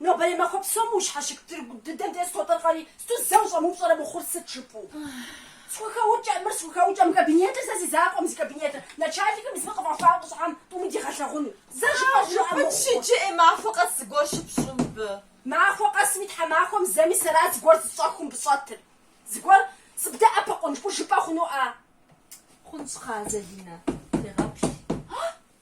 Нобэрей махуэ псом ущхьэщык тыргу дыдэм де схуэтӏыркъэри, сыту зэ ущӏэмыупщӏэрэ мыхъур сыт жыпӏэу? Схухэукӏэ, мыр схухэукӏэ, мы кабинетыр сэ си закъуэм, зи кабинетыр, начальникым зыми къыфӏэхуа ӏущӏхьэм тӏуми дигъэлъэгъуну, зэ жыпӏэ жыӏэ мыхъу. Пыт щыджыӏи, махуэ къэс зыгуэр щыпщӏу мыбы. Махуэ къэсми тхьэмахуэм зэми сэрат зыгуэр зыщӏэххэу мыбы щӏэтыр. Зыгуэр сыбдэӏэпыкъун, жыпӏэу жыпӏэ хъуну-а? Хъунщ, кхъыӏэ, Залинэ, сегъэплъ.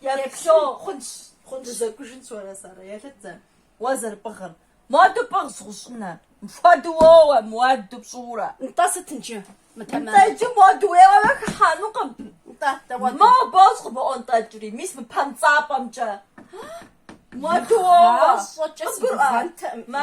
Еплъу, хъунщ, хъунщ. Дызэкӏужынщ уэрэ сэрэ, еплъыт зэ. Уэ зэрыпӏыгъыр. Муаду пӏыгъщ, гъущӏӏунэр. Мыпхуэдэу уоуэ, муаду пщӏыурэ. Нтӏэ, сыт иджы? Нтӏэ, иджы муаду уеуэмэ хыхьэнукъым. Нтӏэ, дауэ? Мэ бос къыбоӏуэнтӏэкӏри, мис мы пэнцӏапӏэмкӏэ. Муаду уоуэ. Гъащӏэкӏэ сыгугъэнтэкъым. Мэ.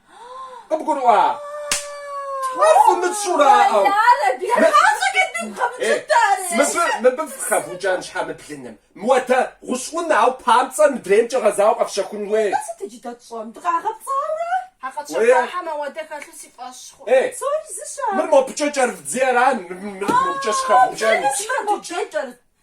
Къыбгурыӏуа? Ар фымыщӏэу ара? Мыбы, мыбы фэ хэвукӏэн щхьэ мы блыным? Муадэ гъущӏӏунэ, ауэ памцӏэр мыдреймкӏэ гъэзауэ къэфщэхун хуей. Атӏэ сыт иджы дэ тщӏэн? Дыкъагъэпцӏауэ ара? А къэтщэхуахэм ауэдэ хэлъу си фӏэщ хъу. Ей, мыр мобыкӏэ кӏэрыфдзи ара, мыр мобыкӏэ щыхэвукӏэн? Мыр мобыкӏэ кӏэрыд.